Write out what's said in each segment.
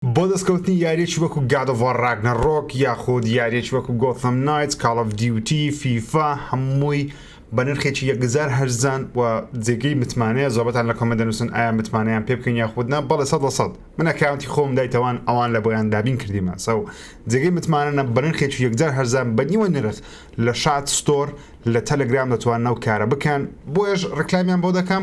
بۆ دەستکەوتنی یاریەکی وەکو گاد ئۆف وار ڕاگنەڕۆک یاخود یاریەکی وەکو گۆثەم نایتس کاڵ ئۆف دیوتی فیفا هەمووی بە نرخێکی یەکجار هەرزان و جێگەی متمانەیە زۆربەتان لە کۆمێنت دەنووسن ئایا متمانەیان پێ بکەین یاخود نا بەڵێ سەد لە سەد من ئەکاونتی خۆم دایتەوان ئەوان لە بۆیان دابین کردیمە سەو جێگەی متمانەنە بە نرخێکی یەکجار هەرزان بە نیوە نرخ لە شات ستۆر لە تەلەگرام دەتوانن ئەو کارە بکەن بۆیەش ڕیکلامیان بۆ دەکەم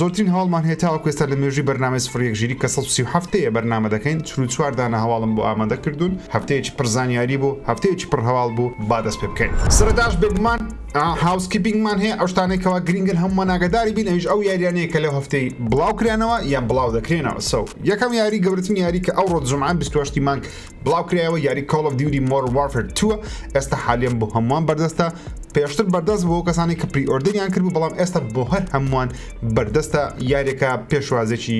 زۆرترین هەواڵمان هەیە تاوەکو ئێستا لە مێژووی بەرنامەی سفر یەک ژیری کە سەد و سی و حەفت دەیە بەرنامە دەکەین چل و چوار دانە هەواڵم بۆ ئامادە کردوون هەفتەیەکی پڕ زانیاری بوو هەفتەیەکی پڕ هەواڵ بوو با دەست پێ بکەین سەرەتاش بێگومان هاوسکیپینگمان هەیە ئەو شتانەی کەوا گرنگن هەموومان ئاگاداری بین ئەویش ئەو یاریانەیە کە لەو هەفتەی بڵاو کرانەوە یان بڵاو دەکرێنەوە سەو یەکەم یاری گەورەترین یاری کە ئەوڕۆ جومعە بیست و هەشتی مانگ بڵاوکرایەوە یاری کۆڵ ئۆف دیوتی مۆرن وارفێر تووە ئێستا حالیەن بۆ هەمووان بەردەستە پێشتر بەردەست بۆ کەسانی کە پری ئۆردریان کرد و بەڵام ئێستا بۆ هەر هەمووان بەردەستە یارێکە پێشوازێکی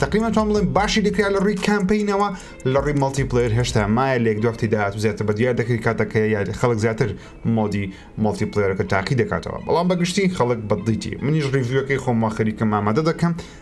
تقریمەن تۆم بڵێن باشی دەکرا لە ڕووی کامپینەوە لە ڕووی مەڵتی پلیر هێشتا مایە لێک دوختی داات و زیاتر بە دیار دەکری کاتەکە یاری خەڵک زیاتر مۆدی مەڵتی پلیرەکە تاقی دەکاتەوە بەڵام بەگشتی خەڵک بەدڵیتی منیش ڕیڤیوەکەی خۆم وەخەریکە مامادە دەکەم و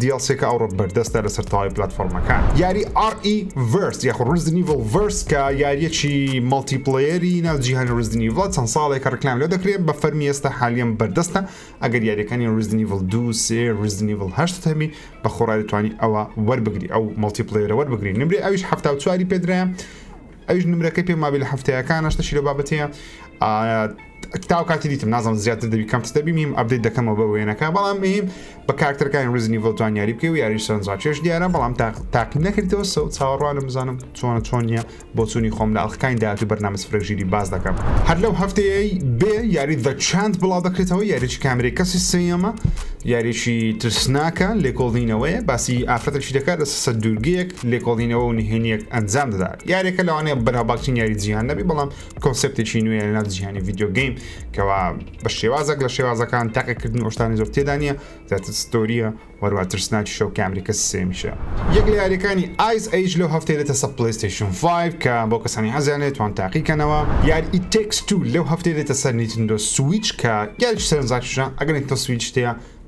دیڵسیەکە ئەوڕۆ بەردەستە لەسەر تەواوی پلاتفۆرمەکان یاری ئاڕ ئی ڤێرس یاخۆ ڕزدنیڤڵ ڤێرس کە یاریەکی مەڵتی پڵەیەری ناو جیهانی ڕزدنیڤڵ چەند ساڵێکە ڕکلام لێ دەکرێت بە فەرمی ئێستا حالیەن بەردەستە ئەگەر یاریەکانی ڕزدنیڤڵ دو سێ ڕزدنیڤڵ هەشت هەبی بە خۆڕای دەتوانی ئەوە وەربگری ئەو مەڵتی پڵەیەرە وەربگری نمرەی ئەویش هەفتا و چواری پێدرایە ئەویش نمرەکەی پێم مابی لە هەفتەیەکان نشتەشی لە بابەت هەیە تاو کاتی دیتم نازم زیاتر دەبی کەم دەبی میم ئەبدەیت دەکەمەوە بە وێنەکە بەڵام میم بە کارکتەرەکانی ریزنی ڤۆلتوان یاری بکە و یاری سەرنجا چێش دیارە بەڵام تاقی نەکردەوە سە و چاوەڕوانم بزانم چۆنە چۆن نیە بۆ چووی خۆم لە ئەڵلقانی داات و بەرنامە فرەژیری باز دەکەم هەر لەو هەفتەیەی بێ یاری دە چاند بڵاو دەکرێتەوە یاریی کامری کەسی سێەمە یاریی ترسناکە لێکۆڵینەوەی باسی ئافرەتەشی دەکات لە سە دوورگەیەک لێکۆڵینەوە و نهێنیەک ئەنجام دەدات یاریەکە لەوانەیە بەناوباکترین یاری جیهان نەبی بەڵام کۆنسپتێکی نوێ لەناو جیهانی ڤیددیوگەیم کەوا بە شێوازێک لە شێوازەکان تاقیکردن ئۆشتانی زۆر تێدانە زیاتر ستۆریە وەروە ترسناکی شەو کامریکە سێمیشە یەک لە یاریەکانی ئایس ئەیج لەو هەفتەی دێتە سە پلیستیشن 5 کە بۆ کەسانی حەزیانێت توان تاقیکەنەوە یاری ئیتێکس تو لەو هەفتەی دێتە سەر نیتندۆ سویچ کە یاریی سەرنجڕاکیشە ئەگەر نیتۆ سویچ تەیە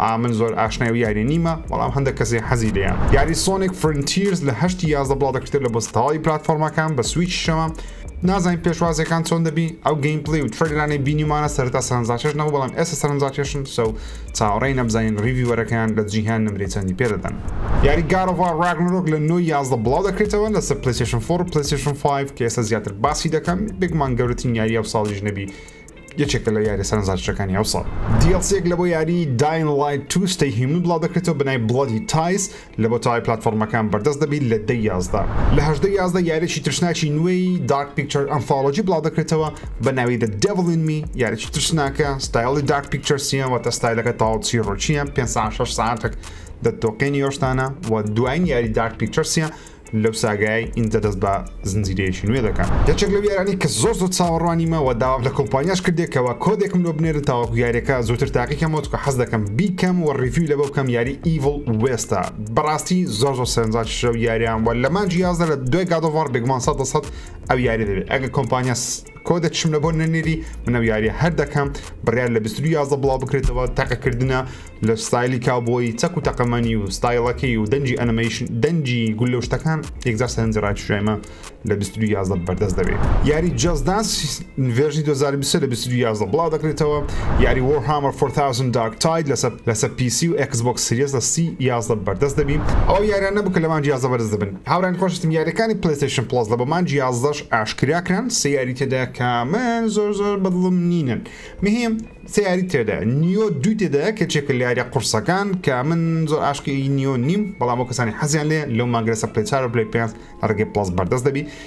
ئا من زۆر ئاشنای ئەو یاریە نیمە بەڵام هەندە کەسێ حەزی لێیە یاری سۆنێک فرنتیرز لە هەشتی یازدە بڵاو دەکرێت لە بۆس تەواوی پلاتفۆرمەکان بە سویچ شەمە نازانین پێشوازەکان چۆن دەبی ئەو گەیم پلی و ترەلرانەی بینیمانە سەرتا سەرنجاکێش نەبوو بەڵام ئێستا سەرنجاکێشن سە و چاوەڕێی نەبزانین ڕیڤیوەرەکەیان لە جیهان نمرەی چەندی پێدەدەن یاری گارۆڤا ڕاگنرۆک لە نۆی یازدە بڵاو دەکرێتەوە لەسەر پلیسیشن فۆر پلیسیشن 5 کە ئێستا زیاتر باسی دەکەم بێگومان گەورەترین یاری ئەو ساڵیش نەبی یەکێکە لە یاریە سەرەنجڕاکێشەکانی ئەوساڵ دیڵسیەک لە بۆ یاری داین لایت تو ستەی هیومن بڵاو دەکرێتەوە بەنای بڵەدی تایس لە بۆ تەوای پلاتفۆرمەکان بەردەست دەبیت لە دەی یازدە لە هەژدەی یازدە یاریی ترسناکی نوێی دارک پیکچەر ئەنفاڵۆجی بڵاو دەکرێتەوە بە ناوی دە دێڤڵ ئین می یاریی ترسناکە ستایڵی دارک پیکچەرسیە واتە ستایلەکە تەواو چیڕۆکییە پێنج سەعات شەش سەعاتێک دەتۆقێنی ئەو شتانە و دواین یاری دارک پیکچەرسیە لەو ساگایەی ئینجا دەست بە زنجیرەیەکی نوێ دەکا. یەکێک لەو یارانەی کە زۆر زۆر چاوەڕوانیمە وە داوام لە کۆمپانیاش کردیە کەوا کۆدێکم لۆ بنێرن تاوەکو یاریەکە زووتر تاقی کەمەوە چونکە حەز دەکەم بیکەم وە ڕیڤیوی لەبە بکەم یاری Evil West ە بەڕاستی زۆر زۆر سەرنجاکیشە لەو یاریە وە لە مانگی یازدە لە دوای گاد ئۆف وار بێگومان سەد لە سەد ئەو یاریە دەبێت ئەگەر کۆمپانیا کۆ دەکشم لە بۆ نەنێری منە یاریە هەر دەکەم بڕیار لە 22 یازە بڵاو بکرێتەوە تەقەکردە لە ستایلی کاوبۆی چەک و تەقەمەنی و ستایلەکەی و دەنجی ئەنمەیش دەنجی گول لە شتەکان یەکجار سەرنج ڕاکیشایمە لە 22 یازە بەردەست دەبێت یاری جەزدانس ڤێژی 2020 لە 22 یازە بڵاو دەکرێتەوە یاری وەرهامەر 4000 دارک تاید لەسەر لەسەر پیسی و ئەکسبۆکس سریس لە سی یازە بەردەست دەبین ئەو یارانە بکە لەمان جیازە بەرز دەبن هاورێیان خۆشویستم یاریەکانی پلەیستەیشن پڵەس لە بۆ مانجی یازدەش ئاشکرا کران سێ یاری تێدا کە من زۆر زۆر بەدڵم نینن مهم سێ یاری تێدا نیۆ دوو تێدا کە چێکە لە یاریە قورسەکان کە من زۆر عاشقی نیۆ نیم بەڵام بۆ کەسانی حەزیان لێ لەو مانگرەسە پلەی چار و پلەی پێنج لە ڕێگەی پڵەس بەردەست دەبی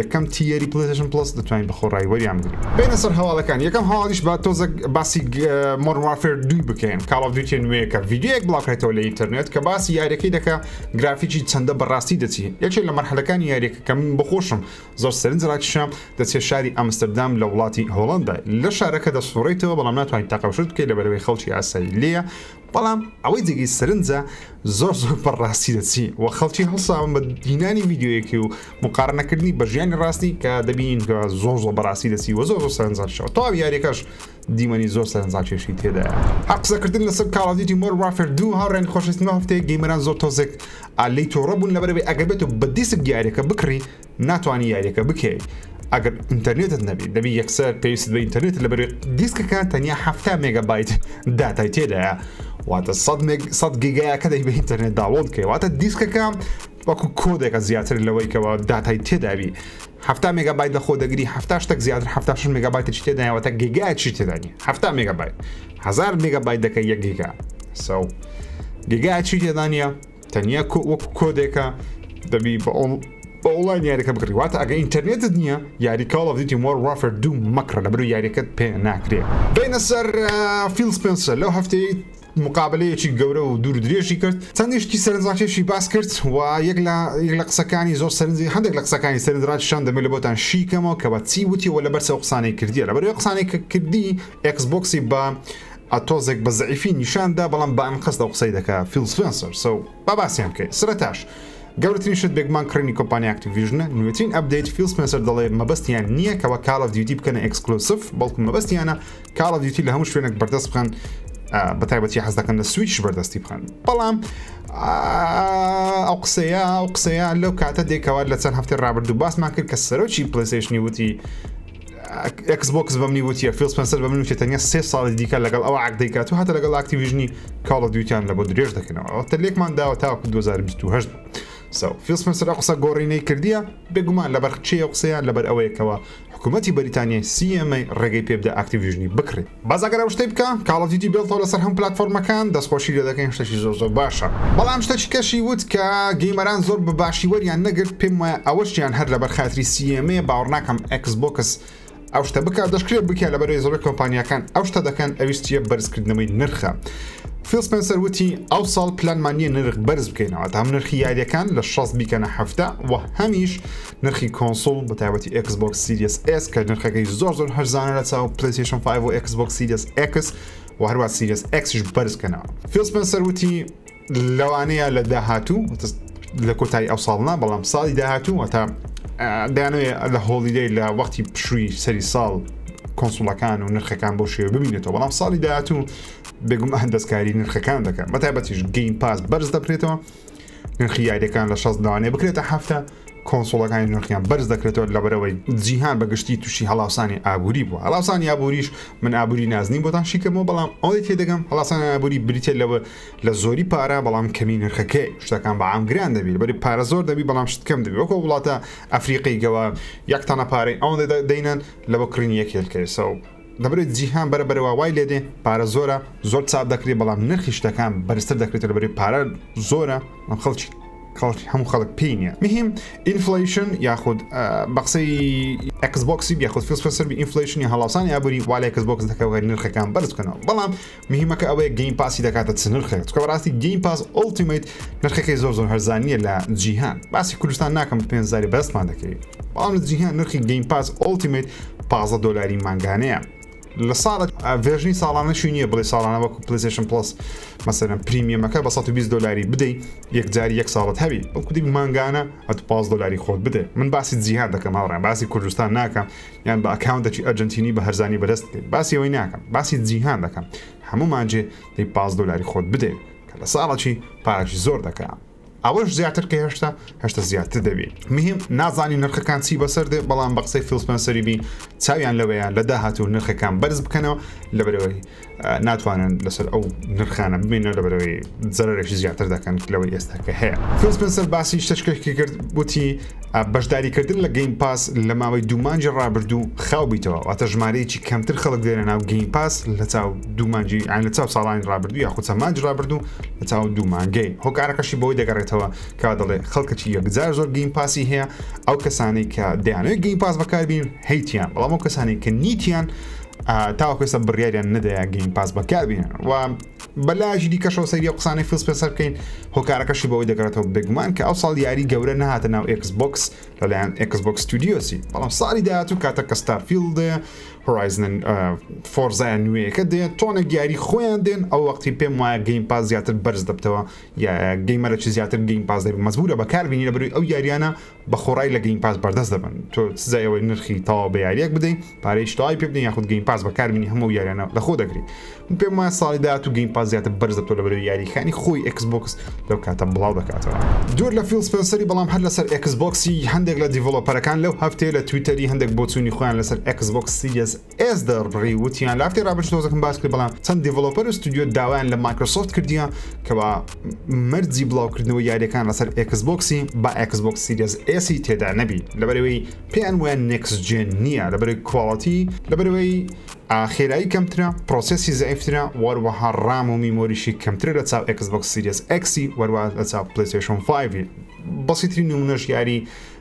یەکەم تیەری پلەیستەشن پڵەس دەتوانین بە خۆڕایی وەریان بگرین بینە سەر هەواڵەکان یەکەم هەواڵیش با تۆزە باسی مۆر وارفێر دوی بکەین کاڵاو دوتێ نوێیەکە ڤیددیوەک بڵاوکرێتەوە لە ئینتەرنێت کە باسی یاریەکەی دەکە گرافیکی چەندە بەڕاستی دەچی یەکێ لە مەرحەلەکانی یاریەکە کە من بخۆشم زۆر سەرنج ڕاکیشام دەچێت شاری ئەمستردام لە وڵاتی هۆڵندا لە شارەکە دەسوڕیتەوە بەڵام ناتوانین تاقەشت بکەیت لە بەرەوەی خەڵکی ئاسایی لێە بەڵام ئەوەی جێگەی سەرنجە زۆر زۆر پڕ ڕاستی دەچی و خەڵکی هەڵساون بە دینانی ویددیوەکی و مقارنەکردنی بە ژیانی ڕاستی کە دەبین کە زۆر زۆر بەڕاستی دەچی وە زۆر زۆر سەرنجشەوە تەواو یاریەکەش دیمەنی زۆر سەرنجاکێشی تێدایە هەر قسەکردن لەسەر کاڵادیتی مۆر وافر دوو هاوڕێن خۆشستنەوە هەفتەیە گەیمەران زۆر تۆزێک ئالی تۆڕە بوون لەبەرەوەی ئەگەبێت و بە دیسک دیارەکە بکڕی ناتوانی یاریەکە بکەی ئەگەر ئینتەرنێتت نەبی دەبی یەکسەر پێویست بە ئینتەرنێت لە بەرێ دیسکەکە تەنیا هەفتا مێگابایت داتای تێدایە واتە سەد گیگایە کە دەی بە ئینتەرنێت داوڵ کەی واتە دیسکەکە وەکو کۆدێکە زیاتر لەوەیکەوە داتای تێدابی هەفتا مێگابایت لە خۆ دەگری هەفتا شتێک زیاتر هەفتا شش مێگابایت چی تێدایەوەتە گیگای چی تێدانی هەفتا مێگابایت هزار مێگابایت دەکە یەک گیگا سەو گیگای چی تێدانە تەنیا کۆ وەک کۆدێکە دەبی بە ئۆڵ بە ئۆڵای یاریەکە بکڕی واتە ئەگە ئینتەرنێتت نییە یاری کاڵ دیتی مۆر وافر دوو مەکڕە لە بەرو یاریەکەت پێ ناکرێ بینە سەر فیل سپنسەر لەو هەفتەی مقابلەیەکی گەورە و دوور درێژی کرد چەندیشتی سەرنجڕاکێشی باس کرد و یەک لە یەک لە قسەکانی زۆر سەرنجی هەندێک لە قسەکانی سەرنجڕاکی شان دەمێت لە بۆتان شیکەمەوە کە بە چی وتی و لە بەرسەوە قسانەی کردیە لە بەرەوە قسانەی کردی ئەکس بۆکسی بە ە تۆزێک بە زەعیفی نیشان دا بەڵام بە ئەنقەست ئەو قسەی دەکا فیڵ سپێنسەر سە و با باسیان کەین سرەتاش گەورەترین شت بێگومان کڕینی کۆمپانیا ئەکتیڤیژنە نوێترین ئەپدەیت فیڵ سپێنسەر دەڵێ مەبەستیان نییە کەوا کاڵ ئۆف دیوتی بکەنە ئێکسکلۆسڤ بەڵکو مەبەستیانە کاڵ ئۆف دیوتی لە هەموو شوێنێک بەردەست بخەن بە تایبەتی حەز دەکەن لە سویچش بەردەستی بخەن بەڵام ئەو قسەیە ئەو قسەیە لەو کاتە دێکەوە لە چەند هەفتی ڕابردوو باسمان کرد کە سەرۆکی پلیسشنی وتی ئێکس بۆکس بەمنی وتیە فیل سپنسەر بە من وتێ تەنیا سێ ساڵی دیکە لەگەڵ ئەو عقدەیکات و هاتە لەگەڵ ئاکتیویژنی کاڵە دیوتیان لە بۆ درێژ دەکەنەوە ئەوتە لێکمان داوە تاوەکو 2028 سو فیل سپنسەر ئە قسە گۆڕینەی کردیە بێگومان لەبەر چێ قسەیان لەبەر ئەوەیەکەوە حکوومەتی بەریتانیای سیەمەی ڕێگەی پێبدا ئاکتیویژنی بکڕێت بەس ئەگەر ئەو شتەی بکا کاڵ ئۆف دیوتی بێڵتەوە لەسەر هەموو پلاتفۆرمەکان دەستخۆشی لێ دەکەین شتێکی زۆر زۆر باشە بەڵام شتەکی کەشی وت کە گەیمەران زۆر بە باشی وەریان نەگرت پێم وایە ئەوەشیان هەر لەبەر خاتری سیێمەیە باوەڕ ناکەم ئەکس بۆکس ئەو شتە بکە دەشکرێت بکە لەبەرەوەی زۆر کۆمپانیەکان ئەو شتە دەکەن ئەویستیە بەرزکردنەوەی نرخە فیلسپنسەر وتی ئەو ساڵ پلانمانە نرخ بەرز بکەینەوە تا هەم نرخی یاریەکان لە 16 بیکەنە هەفتە و هەمیش نرخی کۆنسوڵ بە تایبەتی ئێکس بۆکس سیریەس ئێس کە نرخەکەی زۆر زۆر هەرزانە لە چاو پلەیستێشن 5 و ئێکس بۆکس سیریەس ئێکس و هەروە سیریەس ئێکسیش بەرزکەنەوە فیل سپنسەر وتی لەوانەیە لە داهاتوو لە کۆتایی ئەو ساڵنا بەڵام ساڵی داهاتوو وەتا دانوێ لە هۆڵیدەی لە وەختی پشووی سەری ساڵ کۆنسوڵەکان و نرخەکان بۆ شێوە ببینێتەوە بەڵام ساڵی داهاتوو بێگومان دەستکاری نرخەکان دەکەن بە تایبەتیش گەین پاس بەرز دەبرێتەوە نرخی یاریەکان لە 16 لەوانەیە بکرێتە هەفتە کۆنسۆڵەکانی نرخیان بەرز دەکرێتەوە لەبەرەوەی جیهان بەگشتی تووشی هەڵاوسانی ئابووری بووە هەڵاوسانی ئابووریش من ئابووری نازنین بۆتان شیکەمەوە بەڵام ئەوەی تێ دەگەم هەڵاوسانی ئابووری بریتە لەوە لە زۆری پارە بەڵام کەمی نرخەکەی شتەکان بە ئامگران دەبیت بەری پارە زۆر دەبی بەڵام شتکەم دەبی وەکو وڵاتە ئەفریقی گەوە یەکتانە پارەی ئەوەندە دەینەن لە بۆ کڕینی یەکێلکەیسە و دەبرێت جیهان بەرە بەرەوە وای لێدێ پارە زۆرە زۆر چاپ دەکری بەڵام نرخی شتەکان بەرزتر دەکرێتە لەبەری پارە زۆرە ئەم خەڵکی کەڵکی هەموو خەڵک پێی نیە مهم ئینفلیشن یاخود بە قسەی ئەکسبکسی یاخود فیلسفسەر ئینفلیشنی هەڵاوسانی ئابووری والای کەسبکس دەکەوە نرخەکان بەرزکەنەوە بەڵام مهیمەکە ئەوەیە گەیم پاسی دەکاتە چ نرخێک چکە بەڕاستی گەیم پاس ئۆڵتیمیت نرخەکەی زۆر زۆر هەرزانیە لە جیهان باسی کوردستان ناکەم پێنجاری بەستمان دەکەی بەڵام لە جیهان نرخی گەیم پاس ئۆڵتیمیت پازە دۆلاری مانگانەیە لە ساڵە ڤێژنی ساڵانە شوی نییە بڵێ ساڵانە وەکو پلیسشن پلس مەسەرم پریمیەمەکە بە 120 دلاری بدەیت یەکجاری یەک ساڵت هەوی ئەو کودی مانگانە ئەت پاس دلاری خۆت بدێ من باسی جیهان دەکەم هاوڕێن باسی کوردستان ناکەم یان بە ئەکاونتەکی ئەرجەنتینی بە هەرزانی بەرز بکەیت باسی ئەوەی ناکەم باسی جیهان دەکەم هەموو مانجێ دەی پاس دۆلاری خۆت بدەێت کە لە ساڵەکی پارەکی زۆر دەکەم ئەوەش زیاتر کە هێشتا هەشتا زیاتر دەبێت مهم نازانی نرخەکان چی بەسەر دێ بەڵام بە قسەی فیلسپەنسەری بی چاویان لەوەیە لە داهاتوو نرخەکان بەرز بکەنەوە لەبەرەوەی ناتوانن لەسەر ئەو نرخانە ببینە لە بەرەوەی زەرێکی زیاتر دەکەن لەوەی ئێستا کە هەیە فسپسەر باسی شتشکێکی کرد بوتی بەشداریکردن لە گەیم پاس لە ماوەی دومانجی ڕابردوو خاو بیتەوە واتە ژمارەیەکی کەمتر خەڵک دێنە ناو گەیم پاس لە چاو دومانجی ئاین لە چاو ساڵانی ڕابردوو یا خودسە مانج ڕابردوو لە چاو دومانگەی هۆکارەکەشی بۆی دەگەڕێتەوە کا دەڵێ خەڵکەکی یەکجار زۆر گەیم پاسی هەیە ئەو کەسانەی کە دەیانەوەی گەیم پاس بەکاربین هەیتیان بەڵام ئەو کەسانی کە نیتیان تاوەکو ئێستا بڕیاریان نەدایە گەیم پاس بەکاربێنن و بەلایەکی دیکەشەوە سەیری و قسانەی فیلس پێسەر بکەین هۆکارەکەشی بەوەی دەگەڕێتەوە بێگومان کە ئەو ساڵ یاری گەورە نەهاتە ناو ئکس بکس لەلایەن ئکس بکس ستودیۆسی بەڵام ساڵی داهاتوو کاتە کە ستارفیلد هۆرایزن فۆرزای نوێیەکە دێ تۆنە گیاری خۆیان دێن ئەو وەختی پێم وایە گەیم پاس زیاتر بەرز دەبتەوە یا گەیمەرەی زیاتر گەیم پاس دەبێت مەزبورە بەکاربیینی لە بروی ئەو یاریانە بە خۆڕای لە گەیم پاس بەردەست دەبن تۆ چ جای ئەوەی نرخی تەواو بە یاریەک بدەی پارەیش تەواوی پێ بدەی یاخود گەیم پاس بەکاربینی هەموو یاریانە لە خۆ دەگری من پێم وایە ساڵی داهاتوو گەیم پاس زیاتر بەرز دەبتەوە لە بەرەو یاریەکانی خۆی ئێکس بۆکس لەو کاتە بڵاو دەکاتەوە. دوور لە فیڵ سپێنسەری بەڵام هەر لەسەر ئێکس بۆکسی هەندێک لە دیڤڵۆپەرەکان لەو هەفتەیە لە تویتەری هەندێک بۆچوونی خۆیان لەسەر ئێکس بۆکس سیریەس ئێس دەربڕی وتیان لە هەفتی ڕابرد تۆزەکەم باس کرد بەڵام چەند دیڤلۆپەر و ستودیۆ داوایان لە مایکرۆسۆفت کردیە کەوا مەرجی بڵاوکردنەوە یاریەکان لەسەر ئەکس بۆکسی با ئەکس بۆک سیریز ئێسی تێدا نەبی لەبەرەوەی پێیان وە نێکس جێن نییە لەبەر کواڵەتی لەبەرەوەی خێرایی کەمترە پرۆسسی زعفترە وەروەها ڕام و میمۆریشی کەمترە لە چاو ئەکس بۆک سیریز ئەکسی وەروە لە چاو پلیسشن 5 بەسیتری نمونەش یاری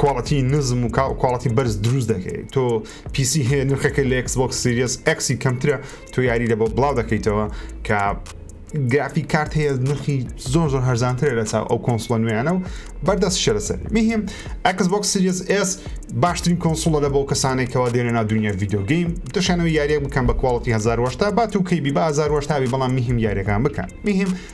کواڵەتی نزم و کواڵەتی بەرز دروست دەکەیت تۆ پیسی هەیە نرخەکە لە ئەکسبک سریس ئەکسی کەمترە تۆ یاری لە بۆ بڵاو دەکەیتەوە کە گرافی کارت هەیە نرخی زۆر زۆر هەرزانترە لە چاو ئەو کۆنسڵە نوێیانە و بەردەست شەرەسەر مهم ئەکسبک سریس ئس باشترین کۆنسڵە لە بۆ کەسانێکەوە دێنە نا دنیا یددیوگەیم دەشانەوە یاریە بکەم بە کواڵەتی 1970 بات و کەی بی بە 1970 بەڵام مهم یاریەکان بکەن مهم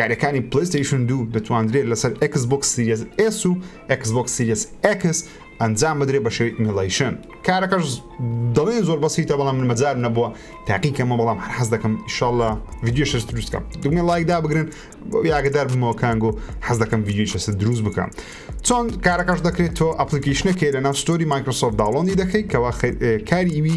یاریەکانی پلەیستەیشن دوو دەتواندرێت لەسەر ئەکس بۆکس سیریەس ئێس و ئەکس بۆکس سیریەس ئەکس ئەنجام بدرێت بە شێوی ئیمیڵیشن کارەکەش دەڵێن زۆر بەسیتە بەڵام من مەجار نەبووە تاقیکەمە بەڵام هەر حەز دەکەم ئیشاڵە ڤیددیو شەش دروستکەم دوگمە لایکدا بگرن یاگەدار بمەوە کانگۆ حەز دەکەم ڤیددیو شەست دروست بکەم چۆن کارەکەش دەکرێت تۆ ئەپلیکیشنەکەی لە ناو ستۆری مایکرۆسۆفت داڵۆنی دەکەیت کەوا کاری ئیوی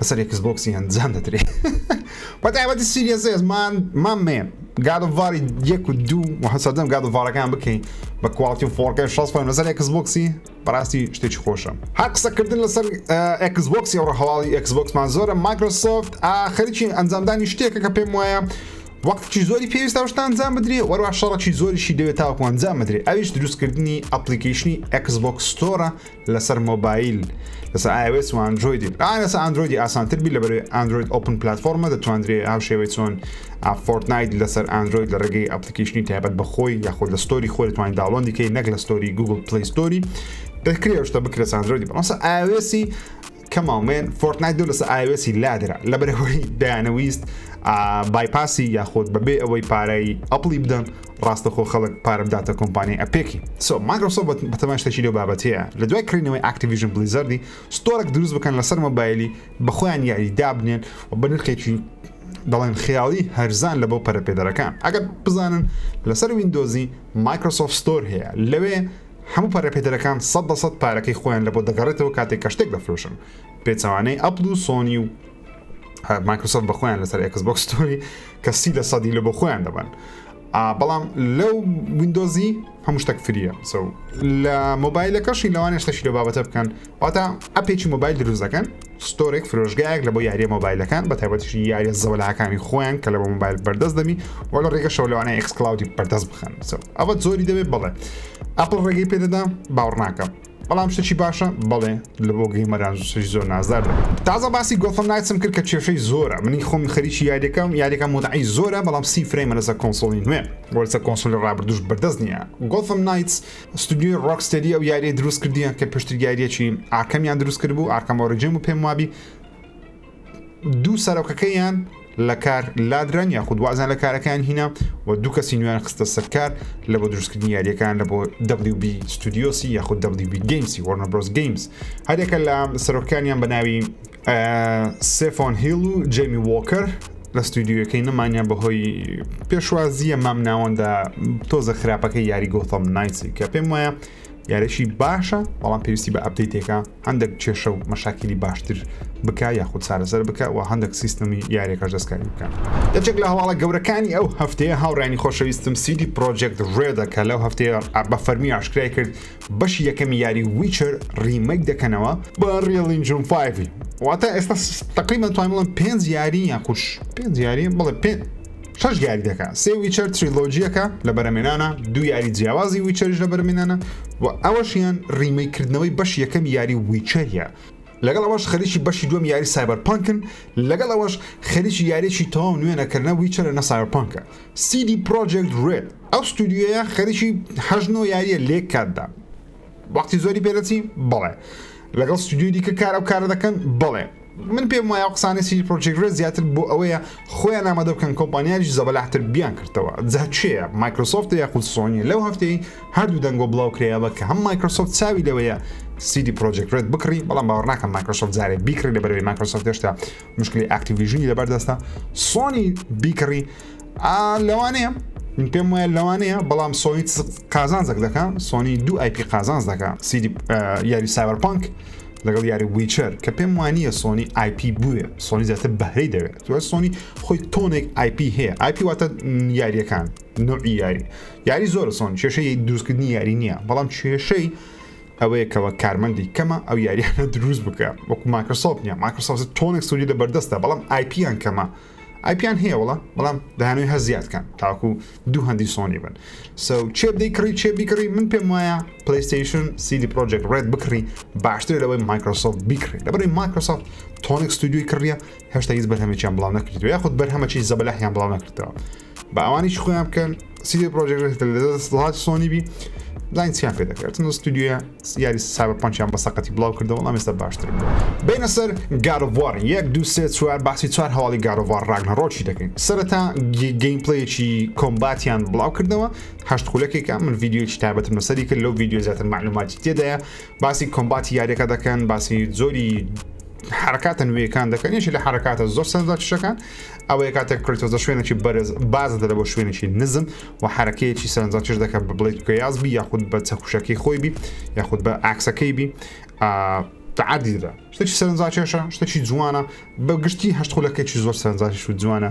لەسەر ئێکس بۆکسی ئەنجام دەدرێ بە تایبەتی سیریەس ئێس مان مان مێ گاد ئۆف واری یەک و دوو و هەسەدەم گاد ئۆف وارەکان بکەین بە کوالتی و فۆرکەی شەست فرەیم لەسەر ئێکس بۆکسی بەڕاستی شتێکی خۆشە هەر قسەکردن لەسەر ئێکس بۆکسی ئەوڕە هەواڵی ئێکس بۆکسمان زۆرە مایکرۆسۆفت خەریکی ئەنجامدانی شتێکە کە پێم وایە وەختکی زۆری پێویستە شتان ئەنجام بدرێ وەروە شەڕکی زۆریشی دەوێت تاوەکو ئەنجام بدرێ ئەویش دروستکردنی ئەپلیکیشنی ئەکسبک ستۆرە لەسەر مۆبایل لەسەر iOS و Android بێت ئا لەسەر Android ئاسانتر بی لەبەر Android Open پلتفۆرمە دەتواندرێ ئاو شێوەی چۆن فۆرتنایت لەسەر Android لە ڕێگەی ئەپلیکیشنی تایبەت بە خۆی یاخود لە ستۆری خۆی توانین داڵۆندی کەی نەک لە ستۆری Google Play Story دەکرێ شتە بکرێت Android بەمەسە iOS کەماو من فۆرتنایت دوو لەسە ئایوێسی لادرا لەبەرەوەی دەیانەویست بایپاسی یاخۆت بەبێ ئەوەی پارەی ئەپڵی بدەن ڕاستەخۆ خەڵک پارە بداتە کۆمپانی ئەپێکی سۆ ماگرۆسۆ بەتەمان شتەکی لەو بابەتەیە لە دوای کڕینەوەی ئاکتیڤژن بلیزەردی ستۆرێک دروست بکەن لەسەر مۆبایلی بەخۆیان یاری دابنێن و بە نرخێکی دەڵێن خیاڵی هەرزان لە بۆ پەرەپێدەرەکان ئەگەر بزانن لەسەر ویندۆزی مایکرۆسۆفت ستۆر هەیە لەوێ هەموو پەرەپێدەرەکان سەد لە سەد پارەکەی خۆیان لەبۆ دەگەڕێتەوە کاتێک کە شتێک دەفرۆشن پێچەوانەی ئەپڵ و سۆنی و مایکرۆسۆفت بە خۆیان لەسەر ئەکس بۆکس ستۆری کە سی لە سەدی لە بۆ خۆیان دەبن بەڵام لەو وینندۆزی هەموو شتێک فریە سو لە مۆبایلەکەشی لەوانێشتەشی لە بابەتە بکەن واتا ئەپێکی مۆبایل دروست دەکەن ستۆرێک فرۆژگایەک لە بۆ یاریە مۆبایلەکان بە تایبەتیشی یاریە زەولاکانی خۆیان کە لە بۆ مۆبایل بەردەست دەبی وە لە ڕێگە شەولەوانە ئەکسکلاودی بەردەست بخەن ئەوە زۆری دەبێت بڵێ ئەپل ڕێگەی پێدەدا باوڕناکەم بەڵام شتێکی باشە بڵێ لە بۆ گەیمەران شش زۆر نازدار تازە باسی گۆفم نایسم کرد کە کێشەی زۆرە منی خۆم خەریکی یاریەکەم یاریەکە مدعی زۆرە بەڵام سی فرەیمە لەسەر کۆنسۆڵی نوێ وەرسە کۆنسۆلی ڕابردوش بەردەست نییە گۆفم نایتس ستودیۆی ڕۆکستەری ئەو یاریە دروست کردیان کە پشتگیریەکی ئاکەمیان دروست کرد بوو ئاکەم ئۆریجم و پێم وابی دوو سەرۆکەکەیان لە کار لادران یاخود وازان لە کارەکان هینا و دوو کەسی نوێن خستە سەرکار لە بۆ دروستکردنی یاریەکان لە بۆ WB ستودیۆسی یاخود WB گەیمسی وەرنە برۆز گەیمز هەرێکە لە سەرۆکانیان بە ناوی سێفۆن هیل و جەمی وۆکەر لە ستودیوەکەی نەمانە بەهۆی پێشوازیە مام ناوەندا تۆزە خراپەکە یاری گۆتەم نایسی کە پێم وایە یارێکی باشە بەڵام پێویستی بە ئەبدەیتێکە هەندێک کێشە و مەشاکیلی باشتر بک یاخود چارەسەر بکە و هەندێک سیستمی یاریەکەش دەستکاری بکە یەکێک لە هەواڵە گەورەکانی ئەو هەفتەیە هاوڕانی خۆشەویستم سیدی پرۆژێکت ڕێدەکە لەو هەفتەیە بە فەرمی ئاشکرای کرد بەشی یەکەمی یاری ویچەر ڕیمەک دەکەنەوە بە ڕیڵین جون فایڤی واتە ئێستا تقریبان توانین بڵم پێ یاری یاخوش پێ یاری بڵێ پێ شش یاری دەکە سێ ویچەر تریلۆجیەکە لە بەرەمێنانە دو یاری جیاوازی ویچەرش لە بەرمێنانە و ئەوەشیان ڕیمەی کردنەوەی بەش یەکەم یاری ویچەریە لەگەڵ ئەوەش خەریکی بەشی دوم یاری سایبەر پانکن لەگەڵ ئەوەش خەریکی یاریی تەواو نوێنەکردە ویچەرە نە سایبەر پانکە سی دی پرۆجێکت رێد ئەو ستودیویە خەریکی هەژن و یاریە لێک کاتدا وەختی زۆری پێدەچی بەڵێ لەگەڵ ستودیو دیکە کار ئەو کارە دەکەن بڵێ من پێم وایە قسانی سی پرۆجێکرێت زیاتر بۆ ئەوەیە خۆیان نامەدە بکەن کۆمپانیاریش زەبەلاحتر بیان کردەوە جاچەیە مایکرۆسۆفت یاخود سۆنی لەو هەفتەی هەردوو دەنگۆ بڵاو کرێەوە کە هەم مایکرۆسۆفت چاوی لەوەیە سیدی پرۆجێکرێت بکڕی بەڵام باوەڕناکەم مایکرۆسۆفت زارێ بیکڕی لە بەرەوەی مایکرۆسۆفت هێشتا مشکلی ئاکتیڤژنی لەبەر دەستە سۆنی بیکڕی لەوانەیە من پێم وایە لەوانەیە بەڵام سۆنی قازانزەک دەکە سۆنی دوو ئایپی قازانز دەکە سیدی یاری ساوەرپانک لەگەڵ یاری ویچەر کە پێم وانە سۆنی آیP بووێ سۆنی زیاتر بەهرەی دەوێت دوای سۆنی خۆی تۆنێک آیP هەیە آیP واتە یاریەکان نوعی یاری یاری زۆر سۆن کێشەی دروستکردنی یاری نییە بەڵام کێشەی ئەوەیە کە وەک کارمەندی کەمە ئەو یاریانە دروست بکە وەکو ماکرسۆفت نیە ماکرسۆفت تۆنێک سوودی لە بەردەستە بەڵام آیپیان کەمە ئایپیان هەیە وڵە بەڵام داهانوی هە زیادکەن تاکو دوو هەندی سۆنی بن سو چێ بدەی کڕی چێ بیکڕی من پێم وایە پلیستیشن سیدی پرۆژێک ڕێت بکڕی باشتر لەوەی مایکرۆسۆفت بیکڕی لەبری مایکرۆسۆفت تۆنێک ستودیوی کڕە هێشتا هیچ بەرهەمێکیان بڵاو نەکردو یاخود بەرهەمەکی زەبەلاحیان بڵاو نەکردەوە با ئەوانیش خۆیان بکەن سیدی پرۆژێک لە دەسڵات سۆنی بی لاین چیان پێ دەکرێتن ستودیوە یاری سابە پنجیان بە سەقەتی بڵاو کردەوە ئەم ئێستا باشتر بوو بینە سەر گارڤار یەک دو سێ چوار باسی چوار هەواڵی گارڤار ڕاگنە ڕۆکی دەکەین سەرەتا گەیم پلەیەکی کۆمباتیان بڵاو کردەوە هەشت خولەکێکە من یددیوی تابەتم لەسەری کرد لەو یددیو زیاتر معلوماتی تێدایە باسی کۆمباتی یاریەکە دەکەن باسی زۆری حرکاتە نوێیەکان دەکەن یشی لە حرکاتە زۆر سەردا شەکان ئەوەیە کاتێک کریتۆزە شوێنێکی بەرز باز دەرە بۆ شوێنێکی نزم و حرکەیەکی سەرنجا چش دەکەن بە بڵیت گەیاز بی یاخود بە چەکوشەکەی خۆی بی یاخود بە ئاکسەکەی بی تعادی دەدا شتێکی سەرنجا کێشە شتێکی جوانە بە گشتی هەشت خولەکەی زۆر سەرنجاش و جوانە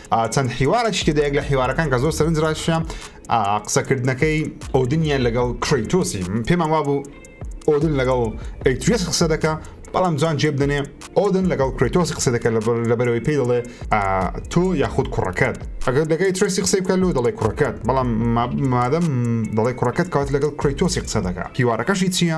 چەند حیوارەکیش تێدا یەک لە حیوارەکان کە زۆر سەرنج ڕاکێشا قسەکردنەکەی ئۆدنیە لەگەڵ کریتۆسی پێمان وابوو ئۆدن لەگەڵ ئەیتوێس قسە دەکە بەڵام جان جێ بدەنێ ئۆدن لەگەڵ کریتۆسی قسە دەکە لەبەرەوەی پێی دەڵێ تۆ یاخود کوڕەکەت ئەگەر دەگەی ترسی قسەی بکە لۆ دەڵێ کوڕەکەت بەڵام مادەم دەڵێ کوڕەکەت کات لەگەڵ کریتۆسی قسە دەکە هیوارەکەشی چییە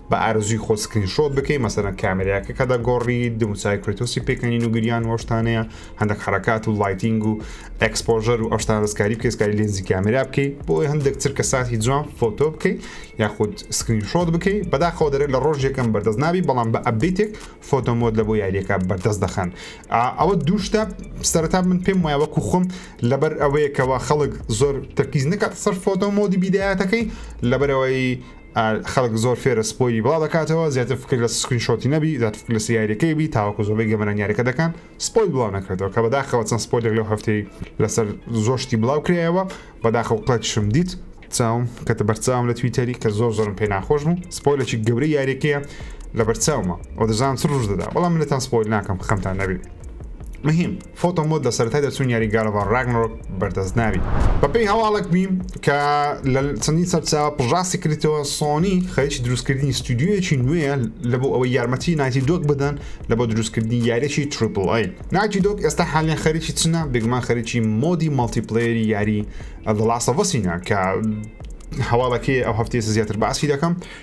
بە ئارەزووی خۆت سکرین شۆت بکەی مەسەرەن کامێرایەکە کە دەگۆڕی دموچای کرێتۆسی پێکەنین و گریان و ئەوشتانەیە هەندێک حرکات و لایتینگ و ئەکسپۆژەر و ئەوشتان دەستکاری بکەسکاری لێنزی کامێرا بکەی بۆی هەندێک تر کە ساتی جوان فۆتۆ بکەی یاخود سکرین شۆت بکەی بەداخەوە دەرێت لە ڕۆژێکم بەردەست نابی بەڵام بە ئەبدیتێک فۆتۆمۆت لە بۆ یاریەکە بەردەست دەخەن ئەوە دووشتا سەرتا من پێم وایە وەکو خۆم لەبەر ئەوەیەکەوە خەڵک زۆر تەرکیز نکات سەر فۆتۆ مۆدی بیداەتەکەی لەبەرەوەی خەڵک زۆر فێرە سپۆیلی بڵاو دەکاتەوە زیاتر فکر لە سکرین شۆتی نەبی زیاتر فکر لە سیارەکەی بی تاوەکو زۆربەی گەمەران یاریەکە دەکەن سپۆیل بڵاو نەکرێتەوە کە بەداخەوە چەند سپۆیلێک لەو هەفتەی لەسەر زۆر شتی بڵاو کرایەوە بەداخەوە قڵەکشم دیت چاوم کە بەرچاوم لە تویتەری کە زۆر زۆرم پێ ناخۆش بوو سپۆیلێکی گەورەی یاریەکەیە لە بەرچاومە و دەزانم چ ڕژ دەدا بەڵام منتان سپۆیل ناکەم خەمتان نەبی مهم فۆتۆ مۆد لە سەرەتای دەرچوون یاری گاد ئۆف وار ڕاگنەرۆک بەردەست نابی. بە پێی هەواڵێک بیم کە لە چەندین سەرچاوە پژاستی کردیتەوە سۆنی خەریکی دروست کردنی ستودیۆیەکی نوێیە لە بۆ ئەوەی یارمەتی نایتی دۆگ بدەن لە بۆ دروست کردنی یاریەکی تریپل ئەی. نایتی دۆگ ئێستا حالیەن خەریکی چنە؟ بێگومان خەریکی مۆدی مەڵتی پلەیەری یاری زە ڵاست ئۆف ئەسینە کە هەواڵەکەیە ئەو هەفتەیە زیاتر باسی دەکەم.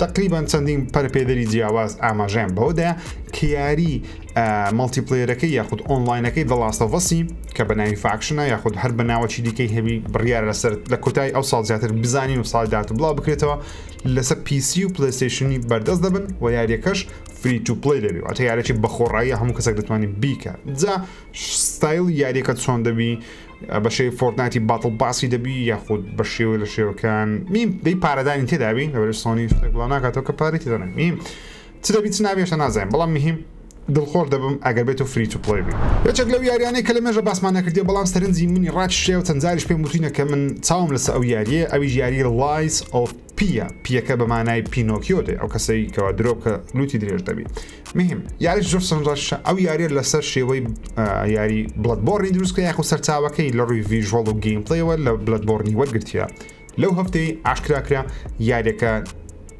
تەقریبەن چەندین پەرپێدەری جیاواز ئاماژەیان بەوەدایە کە یاری مەڵتیپلێرەکەی یاخود ئۆنلاینەکەی دەڵاستەڤەسی کە بە ناوی فاکشنە یاخود هەر بە ناوەچی دیکەی هەبی بڕیار لەسەر لە کۆتایی ئەو ساڵ زیاتر بزانین و ساڵی داات و بڵاو بکرێتەوە لەسەر پیسی و پلستیشنی بەردەست دەبن و یاریەکەش فری تو پلی دەبی واتە یارێکی بەخۆڕایی هەموو کەسێک دەتوانانی بیکە جا ستایل یاریەکە چۆن دەبی بەشێوی فۆرتناتی باتڵ باسی دەبی یاخود بە شێوە لە شێوەکان میم دەی پارەدانی تێدابین لەبەر سۆنی شتێک بڵاو ناکاتەوە کە پارەی تێدەن میم چ دەبی چ نابێشە نازانین بەڵام مهم دڵخۆش دەبم ئەگەر بێت و فری تو پڵی بی یەکێک لەو یاریانەی کە لە مێژە باسمان نەکردێ بەڵام سەرنجی منی ڕاکشێ و چەند جاریش پێم وتوینە کە من چاوم لەسە ئەو یاریە ئەویش یاری لایس ئۆف پییە، پییەکە بە مانای پینۆکیۆ دێ، ئەو کەسەی کەوا درۆ بکە لوتی درێژ دەبی. مهم یاریش زۆر سەرنجڕاکێشە، ئەو یاریە لەسەر شێوەی یاری بڵەدبۆڕنی دروست کرا یاخود سەرچاوەکەی لە ڕووی ڤیژوەڵ و گەیمپڵەیەوە لە بلەدبۆڕنی وەرگرتیە. لەو هەفتەی ئاشکرا کرا یاریەکە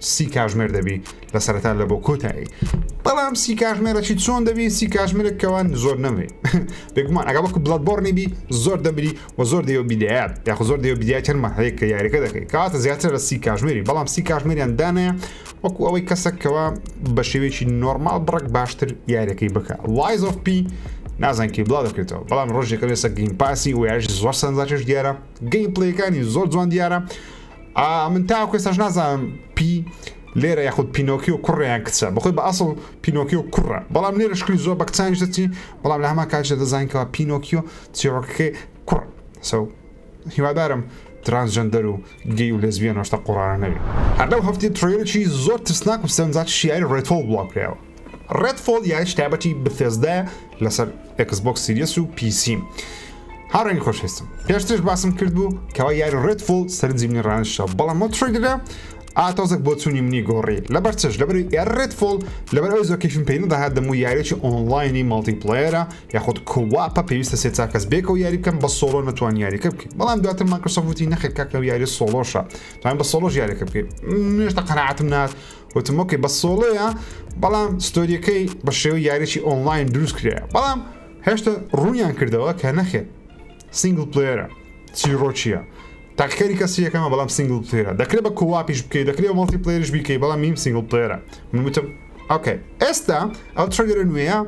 سی کاژمێر دەبی لە سەرەتا لە بۆ کۆتایی بەڵام سی کاژمێرەی چۆن دەبی سی کاژمێرە کەوان زۆر نەمری بێگومان ئەگە وەکو بڵەت بۆڕنی بی زۆر دەمری وە زۆر دەیەو بیدایات یاخو زۆر دەیەو بیدایات چەند مەرحەیەک کە یاریەکە دەکەی کاتە زیاتر لە سی کاژمێری بەڵام سی کاژمێریان دانەیە وەکو ئەوەی کەسەک کەەوە بە شێوێکی نۆرمال بڕک باشتر یاریەکەی بکە لایز of پی نازان کی بڵاو دەکرێتەوە بەڵام ڕۆژێکە لێسە گەیم پاسی و یاژی زۆر سەنجاکەش دیارە گەیم پلەکانی زۆر جوان دیارە من تا کوێستاش نازانم پی لێرە یاخود پینۆکی و کوڕیان کچە بخۆی بە ئەسڵ پینۆکی و کوڕە بەڵام لێرە شکلی زۆر بەکچانی دەچی بەڵام لە هەما کاژە دەزانکەوە پینۆکیۆ چیڕۆکەکەی کوڕ سەو هیوادارم ترانسجەندەر و گەی و لێزبیەن ڕۆشتە قۆڕانە نەبێ. هەر لەو هەفتەیە تڕەیلەکی زۆر ترسناک و سەرنجاکی شیاری ڕێدفۆڵ بڵاو کراوە. ڕێدفۆڵ یاریەکی تایبەتی بثێسدایە لەسەر ئێکس بۆکس سیریەس و پی سی. هاوڕێنی خۆشویستم پێشترش باسم کرد بوو کەوا یاری ڕێدفۆڵ سەرنجی منی ڕانشتەوە بەڵام ئەو تڕەیلەرە ئا تۆزەک بۆ چوونی منی گۆڕی لەبەر چش لەبەر یاری ڕێدفۆڵ لەبەر ئەوی زۆر کەیفم پێی نەدەهات دەموو یاریەکی ئۆنڵاینی مەڵتیپڵەیەرە یاخود کواپە پێویستە سێ چار کەس بێکەوە یاری بکەم بە سۆڵۆ نەتوان یاریەکە بکەین بەڵام دواتر مایکرۆسۆفت وتی نەخێر کاکە و یاری سۆڵۆشە توان بە سۆڵۆژ یاریەکە بکەین نوێشتە قەنەعاتم نات وتم ئۆکێ بە سۆڵۆیە بەڵام ستۆریەکەی بە شێوە یاریی ئۆنلاین دروست کرێە بەڵام هێشتا ڕوونیان کردەوە کە نەخێر سینگل پلێرە چیرۆچیە تاقیکاری کەسیەکەمە بەڵام سینگل پلێرە دەکرێت بە کوواپیش بکەیت دەکرێت مڵتی پلێرش بیکەی بەڵام نیم سینگل پلێرە من وتم ئۆکەی ئێستا ئەو ترەگەرە نوێە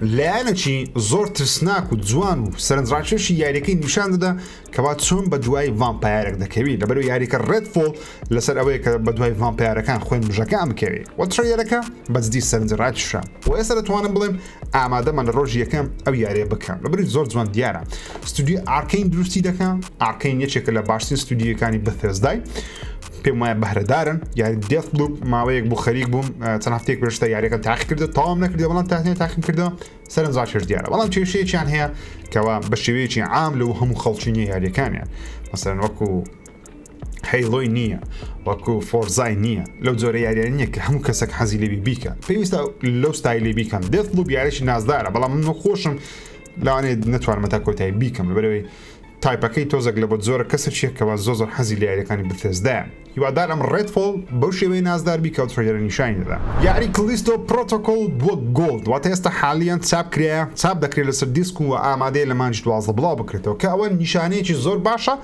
لایەنەکی زۆر ترسناک و جوان و سەرنجڕاکێشی یاریەکەی نیشان دەدا کەوا چۆن بە دوای ڤامپایارێک دەکەوی لەبەر و یاریکە ڕێت فۆڵ لەسەر ئەوەیە کە بە دوای ڤامپایارەکان خوێن مژەکە ئەمکەوی و ترەیەرەکە بەجددی سەرنجڕاکیشە و ئێستا دەتوانم بڵێم ئامادەمان لە ڕۆژی یەکەم ئەو یاریە بکەم لەبری زۆر جوان دیارە ستودی ئارکین دروستی دەکەم ئارکین یەکێکە لە باشترین ستودیەکانی بەفێزدای پێم وایە بەهرەدارن یاری دێست لوپ ماوەیەک بوو خەریک بووم چەند هەفتێک پێشتە یاریەکە تاقی کردو تاوام نەکردی بەڵام تاهێ تاقیم کردو سەرنجاشر دیارە بەڵام کێشەیەکیان هەیە کەوا بە شێوەیەکی عام لەو هەموو خەڵکی نیە یاریەکانیان مەسەن وەکو هەیڵۆی نییە وەکو فۆرزای نییە لەو جۆرە یاریان نییە کە هەموو کەسێک حەزی لێبی بیکە پێویستە لەو ستایلی بیکەم دێت لوب یارێکی نازدارە بەڵام من خۆشم لەوانێ نتوانمە تا کۆتایی بیکەم لەبەرەوەی تایپەکەی تۆزەک لە بۆت زۆرە کەسە چیە کەوا زۆ زۆر حەزی لە یاریەکانی بثێزدایە هیوادارم ڕێد فۆڵ بەو شێوەی نازدار بی کەو تڕەیلەرە نیشانی دەدا. یاری کلیستۆ پرۆتۆکۆڵ بووە گۆڵد واتە ئێستا حالیەن چاپ کرایە چاپ دەکرێت لەسەر دیسک و وە ئامادەیە لە مانگی دوازدە بڵاو بکرێتەوە کە ئەوە نیشانەیەکی زۆر باشە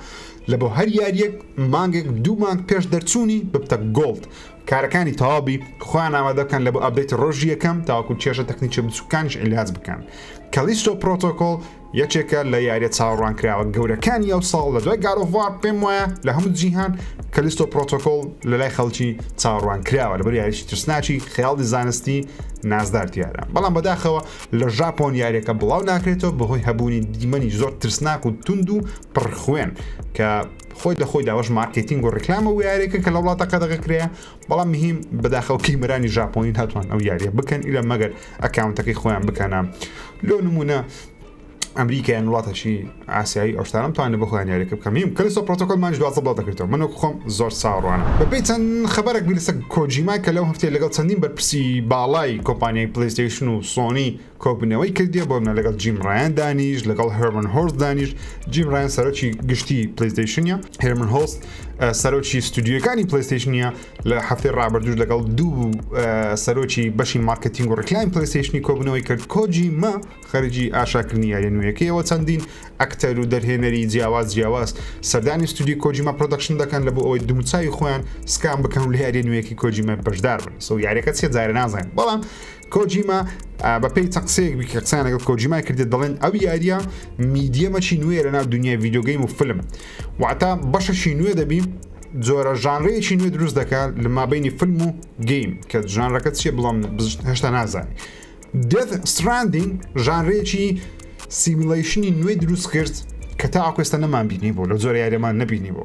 لە بۆ هەر یاریەک مانگێک دوو مانگ پێش دەرچوونی ببتە گۆڵد کارەکانی تەواو بی خۆیان ئامادە بکەن لە بۆ ئەپدەیتی ڕۆژی یەکەم تاوەکو کێشە تەکنیکی بچووکانیش عیلاج بکەن کەلیستۆ پرۆتۆکۆڵ یەکێکە لە یاریە چاوەڕوانکراوە گەورەکانی ئەوساڵ لە دوای گاد ئۆف وار پێم وایە لە هەموو جیهان کەلیستۆ پرۆتۆکۆڵ لە لای خەڵکی چاوەڕوان کراوە لەبەر یاریی ترسناکی خەیاڵی زانستی نازدار تیادا بەڵام بەداخەوە لە ژاپۆن یاریەکە بڵاو ناکرێتەوە بەهۆی هەبوونی دیمەنی زۆر ترسناک و توند و پڕخوێن کە خۆی لە خۆی داوەش مارکتینگ و ڕیکلامە و یاریەکە کە لە وڵاتەکە دەگەکرێ بەڵام مهیم بەداخەوە کیمرانی ژاپۆنی هاتوان ئەو یاریە بکەن ئیلا مەگەر ئەکاونتەکەی خۆیان بکەنە لۆ نمونە ئەمریکایان وڵاتەشی ئاسایی ئەوشتانم توانە بخۆیان یاریەکە بکەمیم کەلسۆ پرۆتۆکۆلمان دوازە بڵاو دەکرێتەوە منۆک خۆم زۆر ساڕوانە بەپی چەند خبرێک بی لەسەر کۆجیما کە لەو هەفتەیە لەگەڵ چەندین بەرپرسی باڵای کۆمپانیای پلیستەیشن و سۆنی کۆبوونەوەی کردیە بۆ منە لەگەڵ جیم ڕایان دانیشت لەگەڵ هێرمن هۆرست دانیشت جیم ڕایان سەرۆکی گشتی پلیستەیشنە هێرمن هۆست سەرۆکی ستودیوەکانی پلیستەیشنە لە هەفتەی ڕابردوش لەگەڵ دوو سەرۆکی بەشی مارکتینگ و ڕکلاین پلیستەیشنی کۆبوونەوەی کرد کۆجی مە خەرجی ئاشاکردنی یاریە نوێیەکەیەوە چەندین ئەکتەر و دەرهێنەری جیاواز جیاواز سەردانی ستودی کۆجیمە پرۆدەکشن دەکەن لە بۆ ئەوەی دومچوی خۆیان سکان بکەن و لە یاری نوێیەکی کۆجیمە بەشدار بن سو یاریەکە چێ جارە نازانین بەڵام کۆجیما بە پێی چەند قسەیەک بکە قسان لەگەڵ کۆجیمای کردێت دەڵێن ئەو یاریە میدیەمەچی نوێ لە ناو دنیای ڤیددیوگەیم و فلم واتە بەشەشی نوێ دەبی جۆرە ژانرەیەکی نوێ دروست دەکات لە مابینی فلم و گەیم کە ژانرەکە چیە بڵام هێشتا نازانانی دێت ستراندین ژانرێکی سیمیلیشنی نوێ دروست کرد کە تا ئاکوێستا نەمان بینی بۆ لە جۆر یاریەمان نبینی بۆ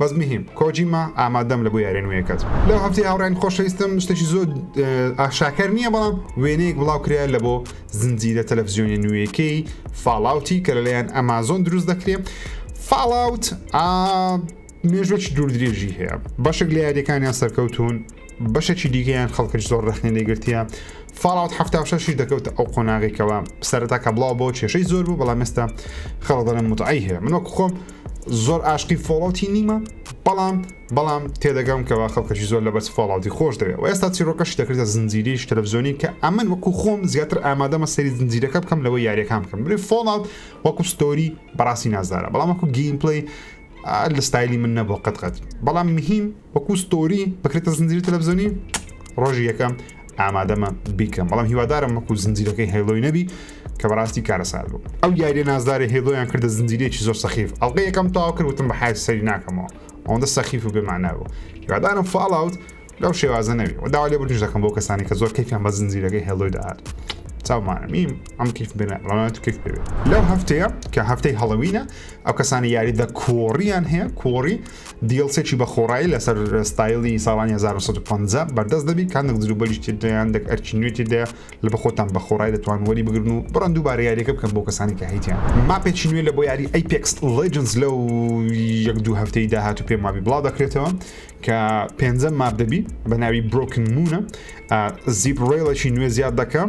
بەس مهم کۆجیما ئامادەم لە بۆ یارێ نوێیەکەت لەو هەفتەی هاوڕێن خۆشەویستم شتێکی زۆر ئاشاکەر نییە بەڵام وێنەیەک بڵاو کرا لە بۆ زنجیرە تەلەڤزیۆنی نوێیەکەی فاڵاوتی کە لەلایەن ئەمازۆن دروست دەکرێت فاڵاوت مێژوەکی دوور درێژی هەیە بەشێک لە یاریەکانیان سەرکەوتون بەشێکی دیگەیان خەڵکەش زۆر ڕخنی لێگرتیە فاڵات هەفتاشی دەکەوت ئەو قۆناغێکەوە سەرتا کە بڵاو بۆ کێشەی زۆر بوو بەڵام مێستا خەڵدەڵم متعی هەیە منۆک خۆم زۆر ئاشقی فۆڵەوتی نیمە بەڵام بەڵام تێدەگەم کەوا خەڵکەشی زۆر لە بەس فۆڵاوتی خۆش دەوێت و ئێستا چیرۆکەشی دەکرێتە زنجیریش تەلەڤزیۆنی کە ئەمن وەکو خۆم زیاتر ئامادەمە سەری زنجیرەکە بکەم لەوە یاریەکان بکەم بری فۆڵات وەکو ستۆری بەڕاستی نازدارە بەڵام وەکو گیم پلی لە ستایلی من نەبوو قەتقەت بەڵام مهیم وەکو ستۆری بکرێتە زنجیری تەلەڤزیۆنی ڕۆژی یەکەم ئامادەمە بیکەم بەڵام هیوادارم وەکو زنجیرەکەی هەیڵۆی نەبی کە بەڕاستی کارەسات بوو ئەو یاریە نازدارە هێڵۆیان کردە زنجیرێکی زۆر سەخیف ئەڵقە یەکەم تاوا کردوتم بە حای سەری ناکەمەوە ئەوەندە سەخیف و بێمانە بوو هیوادارم فاڵاوت لەو شێوازە نەوی و داوا لێ بردش دەکەم بۆ کەسانی کە زۆر کەفیان بە زنجیرەکەی هێڵۆی داهات چاومانەمیم ئەم کیف بێنە ڕەوانەت کیف بێت لەو هەفتەیە کە هەفتەی هەڵەوینە ئەو کەسانی یاری دە کۆڕیان هەیە کۆڕی دیڵسێکی بە خۆڕایی لەسەر ستایلی ساڵانی 1950 بەردەست دەبی کە هەندێک جلوبەریش تێدایان دەک ئەرکی نوێ تێدایە لە بەخۆتان بە خۆڕای دەتوان وەری بگرن و بڕەن دووبارە یاریەکە بکەن بۆ کەسانی کە هەیتیان ماپێکی نوێ لە بۆ یاری ئەیپێکس لەجنس لەو یەک دوو هەفتەی داهاتوو پێم وابی بڵاو دەکرێتەوە کە پێنجە ماپ دەبی بە ناوی برۆکن مونە زیپ ڕێڵەکی نوێ زیاد دەکەم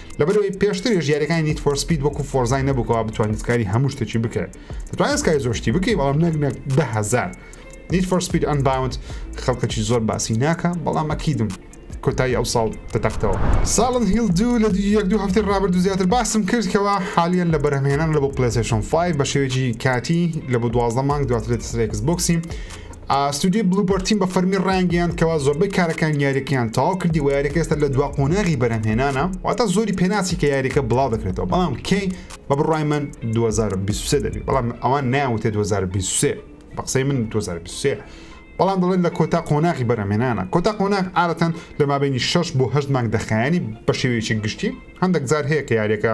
لەبەرەوەی پێشتریش یاریەکانی نیت فۆر سپید وەکو فۆرزای نەبووکەوە بتوانیت کاری هەموو شتێکی بکرێت دەتوانێت سکای زۆشتی بکەی بەڵام نەک نەک دههزار نیت فۆر سپید ئەن باوند خەڵکەکی زۆر باسی ناکە بەڵام ئەکیدم کۆتایی ئەو ساڵ دەتەختەوە ساڵن هیل دوو لە یەک دوو هەفتی ڕابرد و زیاتر باسم کرد کەەوە حالیان لە بەرهمهێنان لە بۆ پلسشن 5 بە شێوێکی کاتی لە بۆ دوازدە مانگ دواترێت سرێکس بۆکسی ستۆدیۆی بلوبەرد تیم بە فەرمی ڕایانگەیاند کەوا زۆربەی کارەکانی یاریەکەیان تەواو کردی و یاریەکە ئێستا لە دوا قۆناغی بەرهەمهێنانە واتە زۆری پێناچی کە یاریەکە بڵاو دەکرێتەوە بەڵام کەی بە بڕای من 2023 دەبێت بەڵام ئەوان ناوتێ 2023 بە قسەی من 2023 بەڵام دەڵێن لە کۆتا قۆناغی بەرەمێنانە کۆتا قۆناغ ئارەتەن لە مابینی 6 بۆ هەشت مانگ دەخایانی بە شێوەیەکی گشتی هەندێک جار هەیە کە یاریەکە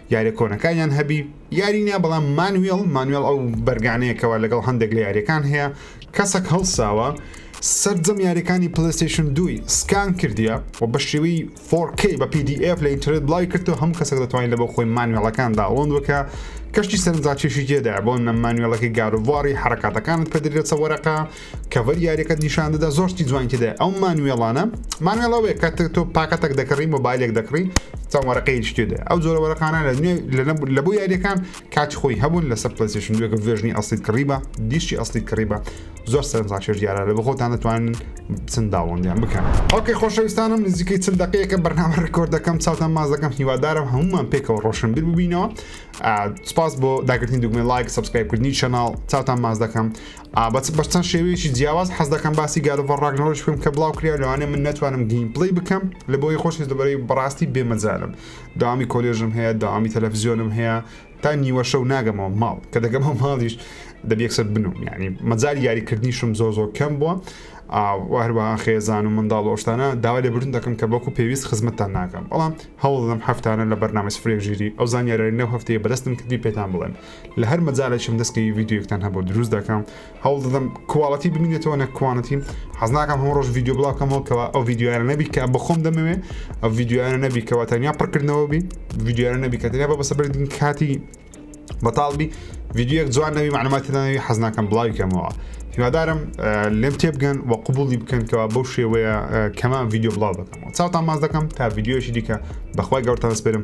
یاریە کۆنەکانیان هەبی یاری نیە بەڵام مانوێڵ مانوێڵ ئەو بەرگانەیەکەوە لەگەڵ هەندێک لە یاریەکان هەیە کەسەک هەڵساوە سەررجەم یاریەکانی پلستیشن دوی سکان کردیە و بە شێوی 4K بە PDF لە ئینترنت بڵاوی کردو هەموو کەسەک دەتوانین لە بۆ خۆی مانوێڵەکان داڵۆند وکە کەشتی سەرنجاکێشی جێدا بۆ نە مانوێڵەکەی گاروڤاری حرکاتەکانت پێدرێتە وەرەقە کەڤەر یاریەکەت نیشان دەدا زۆر شتی جوانی تێدا ئەو مانوێڵانە مانوێڵەوەی کە تۆ پاکەتەک دەکڕی مۆبایلێک دەکڕی چەند وەرەقەی شتێدا ئەو جۆرە وەرەقانە لە نوێ لە بۆ یاریەکان کاتی خۆی هەبوون لەسەر پلسیشن دوێکە ڤێژنی ئەسلیت کڕیبە دیشی ئەسلیت کڕیبە زۆر سەرزاشێش دیارە لە بەخۆتان دەتوانن چەند داوەندیان بکەن ئۆکەی خۆشەویستانم نزیکەی چل دقەیەکە بەرنامە ڕکۆرد دەکەم چاوتان ماز دەکەم هیوادارم هەمومان پێکەوە ڕۆشنبیر ببینەوە سپاس بۆ داگرتنی دوگمە لایک سبسکرایبکردنی چەناڵ چاوتان ماز دەکەم ئا بە بە چەند شێوەیەکی جیاواز حەز دەکەم باسی گارۆڤە ڕاگنەرۆش بکەم کە بڵاو کریا لەوانێ من نەتوانم گیم پلی بکەم لە بۆی خۆش دەبەرەی بەڕاستی بێمەجالم داوامی کۆلێژم هەیە داوامی تەلەفزیۆنم هەیە تا نیوە شەو ناگەمەوە ماڵ کە دەگەمە ماڵیش دەبیەکسەر بنوم ینی مەجای یاریکردنیشم زۆ زۆر کەم بووە هەروە خێزان و منداڵ ئۆشتانە داوا لە بردن دەکەم کە بەکو پێویست خزمەتتان ناکەم بەڵام هەوڵدەم هەفتانە لە بەرنامە فرێژیری ئەو زانیارەی نەو هەفتەیە بەدەستم کردی پێتان بڵێن لە هەر مەجالێکم دەست کەوی ڤیدیۆیەکتان هەبوو دروست دەکەم هەوڵ دەدەم کواڵەتی بمینێتەوە نە کوانەتی حەز ناکەم هەموو ڕۆژ ڤیدیۆ بڵاوکەمەوە کەەوە ئەو ڤیدیوارە نەبی کە بەخۆم دەمەوێ ئەو ڤیدیوارە نەبی کەەوە تەنیا پڕکردنەوە بی ڤیدیوارە نەبی کە تەنیا بە بەسە بردن کاتی بەتاڵبی ڤیددیوەک جوان نەوی معلوماتی ناوی حەزناکەم بڵاوی کەمەوە هیوادارم لێم تێبگەن و قوبولی بکەنکەوە بەو شێوەیە کەمان ڤیددیو بڵاو دەکەمەوە چاوتان ماز دەکەم تا ڤیددیوەشی دیکە بەخوای گەورتان سپێرم